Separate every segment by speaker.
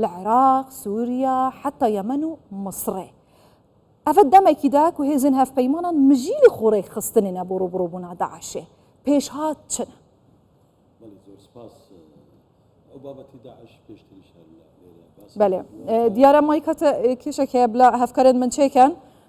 Speaker 1: لە عێراق، سوریا، حەتا یەمەن و مصڕێ. ئەڤە دەمەکی دا کو هێزن هەڤپەیمانان مژیلی خو رێک خستننە بۆ روبڕوبونا داعشێ، پێشهات چنە؟ بەلی
Speaker 2: زۆر سپاس ئەو بابەتی داعش پێشتریش هەر لە ئێرە باسی بەلێ
Speaker 1: کردوە. دیارە مایکەتە کێشەک هەیە بلە هەڤکەرن من چێکەن.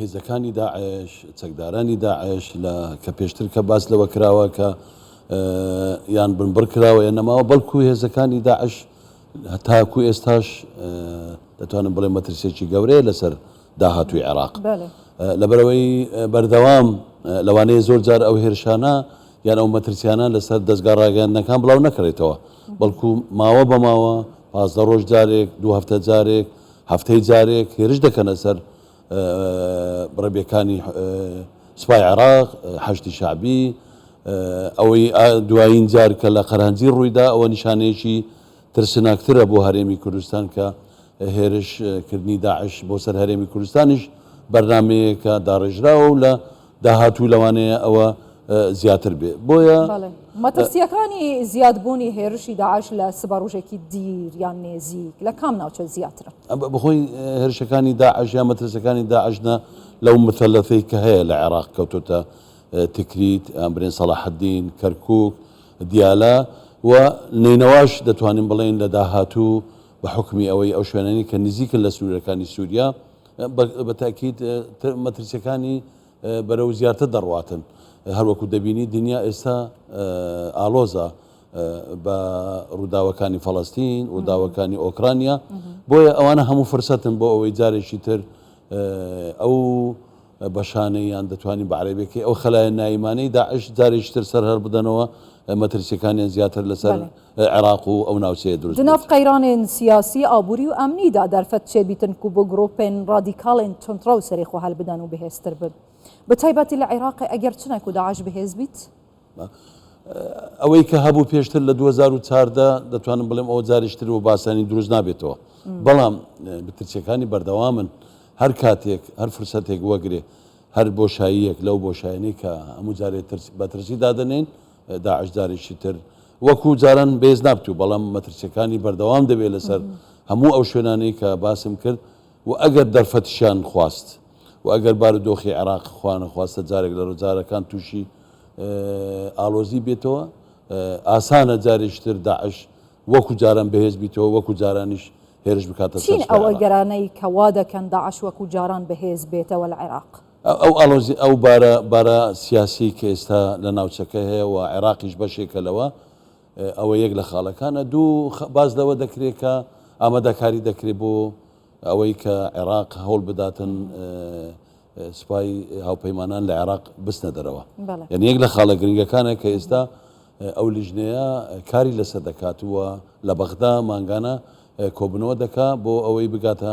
Speaker 2: هێزەکانی داعش، چەکدارانی داعش لە کە پێشتر کە باس لەوە کراوە کە یان بنبڕ کراوە یان نەماوە بەڵکو هێزەکانی داعش تاکو ئێستاش دەتوانم بڵێ مەترسێکی گەورەیە لەسەر داهاتوی عێراق لەبەرەوەی بەردەوام لەوانەیە زۆر جار ئەو هێرشانە یان ئەو مەترسیانە لەسەر دەستگا ڕاگەاندنەکان بڵاو نەکرێتەوە بەڵکو ماوە بەماوە پازدە ڕۆژ جارێک دو هەفتە جارێک هەفتەی جارێک هێرش دەکەنە سەر بڕەبێکانی سوپای عێراق، حەشدی شەعبی، ئەوەی دوایین جار کە لە قەرهەنجی ڕوویدا ئەوە نیشانەیەکی ترسناکترە بۆ هەرێمی کوردستان کە هێرشکردنی داعش بۆ سەر هەرێمی کوردستانیش بەرنمەیەکە داڕێژراوە و لە داهاتوو لەوانەیە ئەوە زیاتر بێ بۆیە مەترسیەکانی
Speaker 1: زیاد بوونی هێرشی داعش لە سبەڕژێکی دیر یان نێزیک لە کام ناوچە زیاترە بخۆی
Speaker 2: هێرشەکانی داعش یا مەترسەکانی داعشنە لەو مثلەفەی کە هەیە لە عێراق کەوتۆتە تکریت ئەمبرێن سەڵاحدین کەرکک دیالە و نینەواش دەتوانین بڵێن لە داهاتوو بە حکمی ئەوەی ئەو شوێنانی کە نزیکن لە سنوورەکانی سووریا بە تاکید مەترسیەکانی بەرەو زیاتر دەڕواتن هەروەکو دەبینی دنیا ئێستا ئالۆزە بە ڕووداوەکانی فەڵستین ڕووداوەکانی ئۆکرانیا بۆیە ئەوانە هەموو فرسەتن بۆ ئەوەی جارێکی تر ئەو بەشانەیان دەتوانین بە عربێکی ئەو خلایە نایمانەی داعش جارێکتر سەر هەر بدەنەوە مەترسیەکانیان زیاتر لەسەر عراق و ئەو ناوچەیە دروست بێت. دناڤ قەیرانێن
Speaker 1: سیاسی، ئابووری و ئەمنی دا دەرفەت چێ بیتن کو بۆ گرووپێن رادیکاڵێن توندڕەو سەرێ خۆ هەلبدەن و بەهێز تر بن. بە تایبەتی لە عراق ئەگەر چنە کو داعش بەهێز بیت.
Speaker 2: ئەوەی کە هەبوو پێشتر لە دوو هەزار و چاردە دەتوانم بڵێم ئەوە جاریش تر و باسانی دروست نابێتەوە. بەڵام بترچەکانی بەردەوامن. هەر کاتێک هەر فرسەتێک وەگرێ هەر بۆشاییەک لەو بۆشایانەی کە هەموو جارێ بەترسی دادەنێن. داعش جارێکی تر وەکو جاران بێز نابتوو بەڵام مەترسیەکانی بەردەوام دەبێت لەسەر هەموو ئەو شوێنانەی کە باسم کرد و ئەگەر دەرفەتشیان خواست و ئەگەر بارودۆخی عێراق خوانە خواستە جارێک لە ڕۆجارەکان تووشی ئالۆزی بێتەوە ئاسانە جارێشتر داعش وەکو جاران بەهێز بیتەوە وەکو جارانیش هێرش بکاتە چین ئەوە گەرانەی
Speaker 1: کەوا دەکەن داعش وەکو جاران بەهێز بێتەوە لە عێراق ئەو ئاڵۆزی،
Speaker 2: ئەو بارە بارە سیاسیەی کە ئێستا لە ناوچەکە هەیە و عێراقیش بەشێکە لەوە، ئەوە یەک لە خاڵەکانە. دوو، باس لەوە دەکرێ کە ئامادەکاری دەکرێ بۆ ئەوەی کە عێراق هەوڵ بداتن سوپای هاوپەیمانان لە عێراق بچنە دەرەوە. یانی یەک لە خاڵە گرنگەکانە کە ئێستا ئەو لیژنەیە کاری لەسەر دەکات و لە بەغدا مانگانە کۆبوونەوە دەکا بۆ ئەوەی بگاتە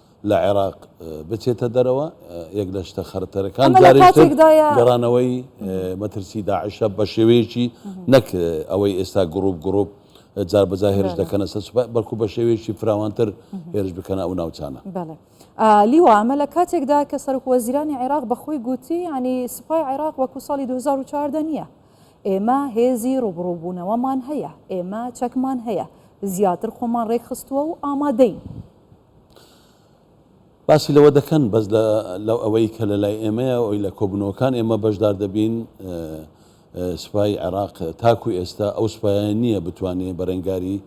Speaker 2: لە عێراق بچێتە دەرەوە، یەک لە شتە خەرەتەرەکان جارێکتر گەڕانەوەی مەترسی داعشە بە شێوەیەکی نەک ئەوەی ئێستا گروپ گروپ جار بەجا هێرش دەکەنە سەر سوپای بەڵکو بە شێوەیەکی فراوانتر هێرش بکەنە ئەو ناوچانە لیوا
Speaker 1: ئەمە لە کاتێکدا کە سەرک وەزیرانی عێراق بەخۆی گوتی ینی سوپای عێراق وەکو ساڵی 2014 نییە ئێمە هێزی ڕوبڕوبوونەوەمان هەیە ئێمە چەکمان هەیە زیاتر خۆمان ڕێکخستووە و ئامادەین.
Speaker 2: باسی لەوە دەکەن بەس لەو ئەوەی کە لە لای ئێمەیە ئەوی لە کۆبنەوەکان ئێمە بەشدار دەبین سوپای عێراق تاکو ئێستا ئەو سوپایان نییە بتوانێت بەرەنگاری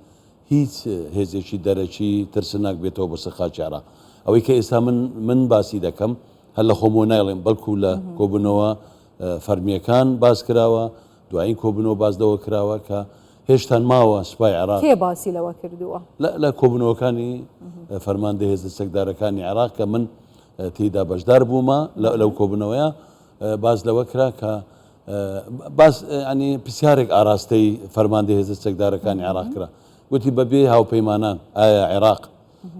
Speaker 2: هیچ هێزێکی دەرەکی ترسناک بێتەوە بە سەرخاکی عێراق ئەوەی کە ئێستا من من باسی دەکەم هەر لە خۆمۆ نایڵێم بەڵکو لە کۆبنەوە فەرمیەکان باس کراوە دوایین کۆبنەوە باسدەوە کراوە کە هێشتان ماوە سوپای عێراق. کێ باسی لەوە کردووە؟
Speaker 1: لە لە کۆبوونەوەکانی
Speaker 2: فەرماندەی هێزە چەکدارەکانی عێراق کە من تێیدا بەشدار بوومە لەو کۆبوونەوەیە باس لەوە کرا کە باس ئەنی پرسیارێک ئاراستەی فەرماندە هێزە چەکدارەکانی عێراق کرا گوتی بەبێ هاوپەیمانان ئایا عێراق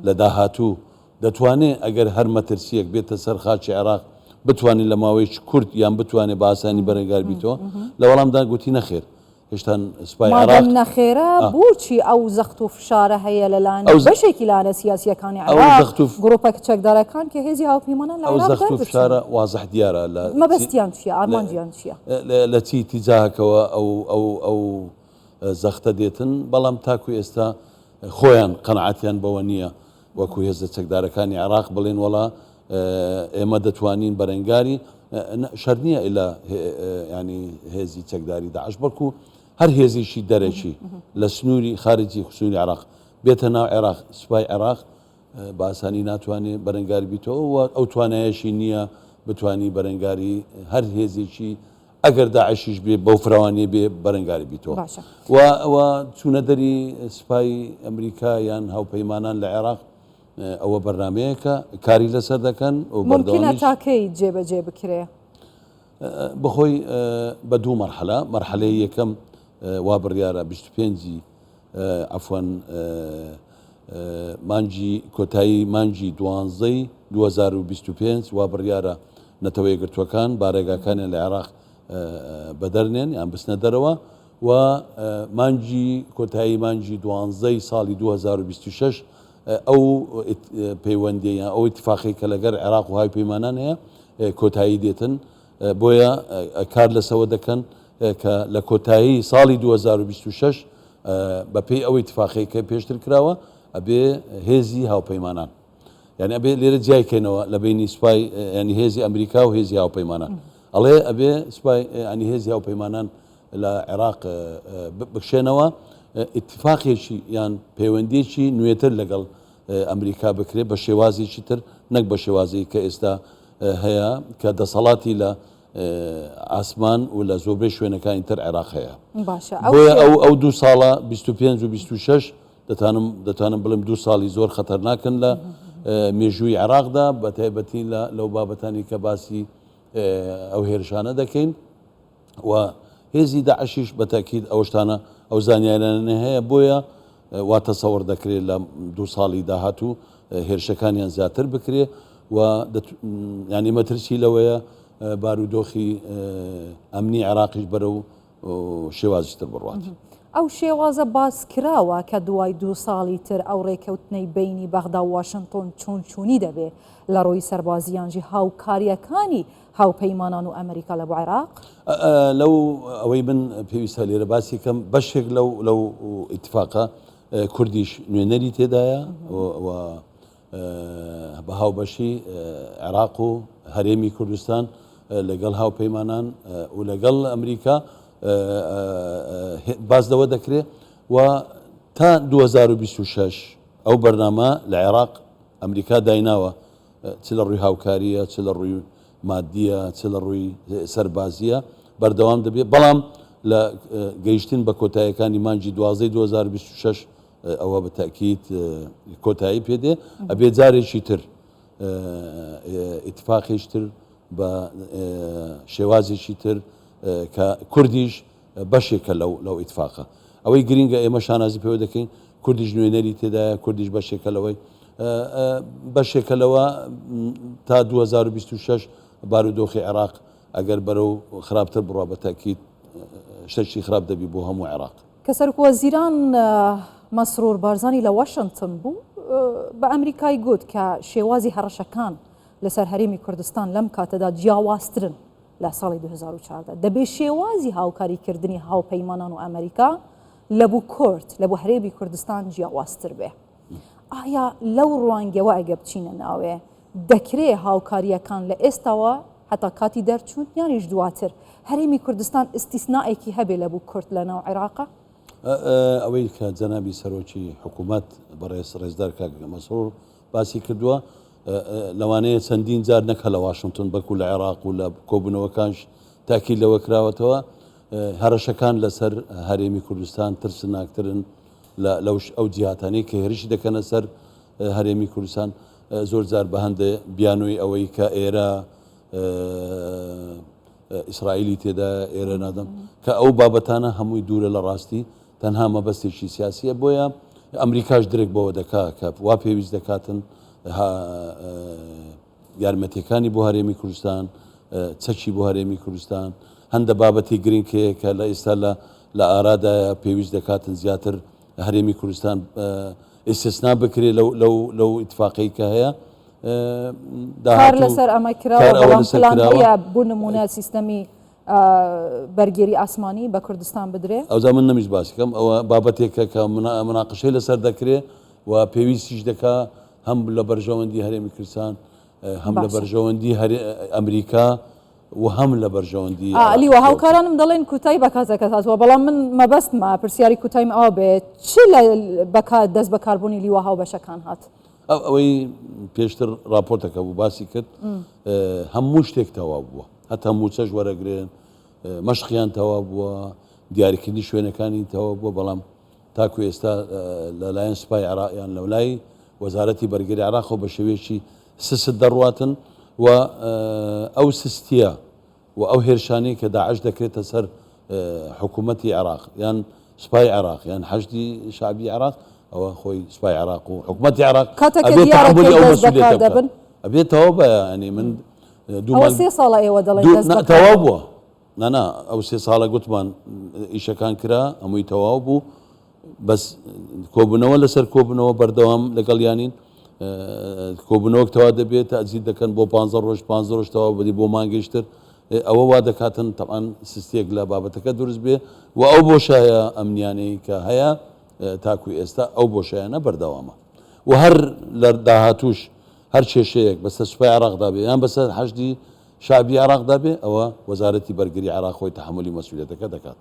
Speaker 2: لە داهاتوو دەتوانێت ئەگەر هەر مەترسیەک بێتە سەر خاچی عێراق بتوانین لە ماوەیەکی کورت یان بتوانێت باسانی بەرەنگار بیتەوە لە وەڵامدا گوتی نەخێر هێشتان سوپای عێراق. مادەم نەخێرە بۆچی
Speaker 1: ئەو زەخت و فشارە هەیە لە لایەن بەشێکی لایەنە سیاسییەکانی عێراق، گروپە چەکدارەکان کە هێزی هاوپەیمانان لە عێراق دەربچن؟ ئەو زەخت و فشارە وازح
Speaker 2: دیارە لە مەبەستیان چییە؟
Speaker 1: ئارمانجیان چییە؟ لە چی
Speaker 2: ئیتیجاهەکەوە ئەو زەختە دێتن، بەڵام تاکو ئێستا خۆیان قەناعەتیان بەوە نییە. وەکو هێزە چەکدارەکانی عێراق بڵێن وەڵا ئێمە دەتوانین بەرەنگاری شەر نییە ئیلا ینی هێزی چەکداری داعش بەڵکو هەر هێزیشی دەرەکی لە سنووری خارجی خسووری عراق بێتە ناو عێراق سوپای عێراق باسانی ناتوانێت بەرەنگاری بیتەوە ئەو توانایەشی نییە بتانی بەرەنگاری هەر هێزیی ئەگەر داعشیش بێ بەو فراوانیە بێ بەرەنگاری بیتەوە باشە و و چوونە دەری سپای ئەمریکا یان هاوپەیمانان لە عێراق اه، ئەوە بەرنمەیەکە کاری لەسەر دەکەن و ممکنە بەردەوامیش تاکەی
Speaker 1: جێبەجێ بکرێ
Speaker 2: بەخۆی اه، بە دوو مەرحەلە مەرحەلەی یەکەم اه، وا بڕیارە 25 عەفوەن مانگی کۆتایی مانگی دوانزەی 2025 وا بڕیارە نەتەوە یەکگرتووەکان بارەگاکانیان لە عێراق بەدەرنێن یان بچنە دەرەوە و مانگی کۆتایی مانگی دوانزەی ساڵی 2026 ئەو پەیوەندیان ئەو اتفاقی کە لەگەر عێراق و های پەیمانان هەیە کۆتایی دێتن بۆیە کار لەسەوە دەکەن کە لە کۆتایی ساڵی دوو هەزار و بیست و شەش بەپێی ئەو ئیتفاقیەکە پێشتر کراوە ئەبێ هێزی هاوپەیمانان یعنی ئەبێ لێرە جیای کەینەوە لە بینی سوپای ینی هێزی ئەمریکا و هێزی هاوپەیمانان ئەڵێ ئەبێ سوپای ئەنی هێزی هاوپەیمانان لە عێراق بکشێنەوە اتفاقێکی یان پەیوەندێکی نوێتر لەگەڵ ئەمریکا بکرێت بە شێوازێکی تر نەک بە شێوازی کە ئێستا هەیە کە دەسەڵاتی لە ئاسمان و لە زۆربەی شوێنەکانی تر عێراق هەیە بۆیە ئەو ئەو دو ساڵە 25 و 26 دەتانم دەتوانم بڵم دو ساڵی زۆر خەتەرناکەن لە مێژووی عراقدا بە تایبەتی لە لەو بابەتانی کە باسی ئەو هێرشانە دەکەین و هێزی داعشیش بە تەئکید ئەو شتانە ئەو زانیاریانە هەیە بۆیە وا تەسەوەڕ دەکرێت لە دوو ساڵی داهاتوو هێرشەکانیان زیاتر بکرێ و ینی مەترسی لەوەیە بارودۆخی ئەمنی عێراقیش بەرە و شێوازتر بڕات. ئەو شێوازە
Speaker 1: باس کراوە کە دوای دوو ساڵی تر ئەو ڕێکەوتنەی بینی بەغدا واشنتۆن چۆن چوونی دەبێ لە ڕووی سەربازیانژی هاوکاریەکانی هاوپەیمانان و ئەمریکا لە بۆ عێراق؟ لەو
Speaker 2: ئەوەی من پێویستە لێرە باسی کەم بەشێک لەو لەو ئیتفاقە کوردیش نوێنەری تێدایە بە هاوبەشی عێراق و هەرێمی کوردستان لەگەڵ هاوپەیمانان و لەگەڵ ئەمریکا باس لەوە دەکرێ و تا 2026 ئەو بەرنامە لە عێراق ئەمریکا دایناوە چ لە ڕووی هاوکارییە، چ لە ڕووی ماددییە، چ لە ڕووی سەربازییە بەردەوام دەبێت، بەڵام لە گەیشتن بە کۆتاییەکانی مانگی دوازدەی دوو هەزار و بیست و شەش ەوە بە تەئکید کۆتایی پێ دێ، ئەبێ جارێکی تر ئیتفاقیش تر بە شێوازێکی تر کە کوردیش بەشێکە لەو لەو ئیتفاقە. ئەوەی گرینگە ئێمە شانازی پێوە دەکەین کوردیش نوێنەری تێدایە کوردیش بەشێکە لەوەی بەشێکە لەوە تا 2026 بارودۆخی عێراق ئەگەر بەرەو خراپتر بڕە بە تاکیت شتەشتی خراپ دەبی بۆ هەموو عێراق کە سەرکووە زیران
Speaker 1: مەسرور بارزانانی لە واشنتن بوو بە ئەمریکای گوت کە شێوازی هەڕەشەکان لەسەر هەرێمی کوردستان لەم کاتەدا جیاوازترن لە ساڵی دوو هەزار و چواردە دە بێ شێوازی هاوکاری کردنی هاوپەیمانان و ئەمەریکا لە بو کورد لە بو هەرێمی کوردستان جیاوازتر بێ. ئایا لەو ڕوانگەوە ئەگە بچینە ناوێ دەکرێ هاوکارییەکان لە ئێستاوە هەتا کاتی دەرچوون یانیش دواتر هەرێمی کوردستان ئیستیسنائێکی هەبێ لە بو کورد لە ناو عێراقا؟ ئەوەی
Speaker 2: کە جەنابی سەرۆکی حکوومەت بەڕێز ڕێزدار کاک مەسرور باسی کردووە، لەوانەیە چەندین جار نەک هەر لە واشنتن بەڵکو لە عێراق و لە کۆبوونەوەکانش تاکید لەوە کراوەتەوە هەرەشەکان لەسەر هەرێمی کوردستان ترسناکترن لەوش ئەو جیاتانی کە هێرشی دەکەنە سەر هەرێمی کوردستان زۆر جار بە هەندێ بیانووی ئەوەی کە ئێرە ئیسرائیلی تێدایە ئێرە نادەم کە ئەو بابەتانە هەمووی دوورە لە ڕاستی تەنها مەبەستێکی سیاسیە بۆیە ئەمریکاش درێک بەوە دەکا کە وا پێویست دەکاتن یارمەتیەکانی بۆ هەرێمی کوردستان چەکی بۆ هەرێمی کوردستان هەندە بابەتی گرنگ هەیە کە لە ئێستا لە لە ئارادایە پێویست دەکاتن زیاتر هەرێمی کوردستان ئیسسنا بکرێت لەو ئیتفاقی کە هەیە
Speaker 1: دار لەسەر ئەمە کرا بۆ نمونە سیستەمی بەرگێری ئاسمانی بە کوردستان بدرێ ئەوزا من نمیش باسیکەم
Speaker 2: ئەوە بابەتێکە کە مناقشەی لەسەر دەکرێ و پێویستیش دەکا هەم لە بەرژەوەندی هەرێمی کوردستان هەم لە بەرژەوەندی ئەمریکا و هەم لە بەرژەوەندی عێراقی خۆتە. هاوکارانم
Speaker 1: دەڵێن کوتای بە کاتەکەت هاتووە، بەڵام من مەبەستمە پرسیاری کوتایم ئەوە بێ چ لە بەکار دەست بەکاربوونی لیوا هاوبەشەکان هات؟ ئەو ئەوەی
Speaker 2: پێشتر ڕاپۆرتەکە بوو باسی کرد هەموو شتێک تەواو بووە هەتا موچەش وەرەگرێن مەشقیان تەواو بووە دیاریکردنی شوێنەکانی تەواو بووە بەڵام تاکو ئێستا لەلایەن سوپای عراقیان لەولای وەزارەتی بەرگری عراق و بە شێوێکی سست دەڕواتن و ئەو سستیە و ئەو هێرشانەی کە داعش دەکرێتە سەر حکوومەتی عێراق یان سوپای عێراق یان حەشدی شعبی عێراق ئەوە خۆی سوپای عێراق و حکوومەتی عێراق ئەبێت تەوا بە ئەنی من دوو سێ
Speaker 1: ساڵە ئێوە دەڵێن تەوا بووە
Speaker 2: نانا ئەو سێ ساڵە گوتمان ئیشەکان کرا ئەمووی تەواو بوو بەس کۆبوونەوە لەسەر کۆبوونەوە بەردەوام لەگەڵیانین کۆبوونەوەک تەوا دەبێت تازیل دەکەن بۆ پ ڕۆژ پ ڕۆژ تەوا بدی بۆ مانگەشتر ئەوە وا دەکاتن تەعاان سستێک لە بابەتەکە دروست بێ و ئەو بۆ شایە ئەمنیانەی کە هەیە تاکو ئێستا ئەو بۆ شایەنە بەردەوامە و هەر لە داهاتوش هەر کێشەیەک بەسەر سوپای عراقدا بێ یان بەسەر حەشدی شابی عراقدا بێ ئەوە وەزارەتی بەرگری عراق خۆی تحملی مەسوولێتەکە دەکات.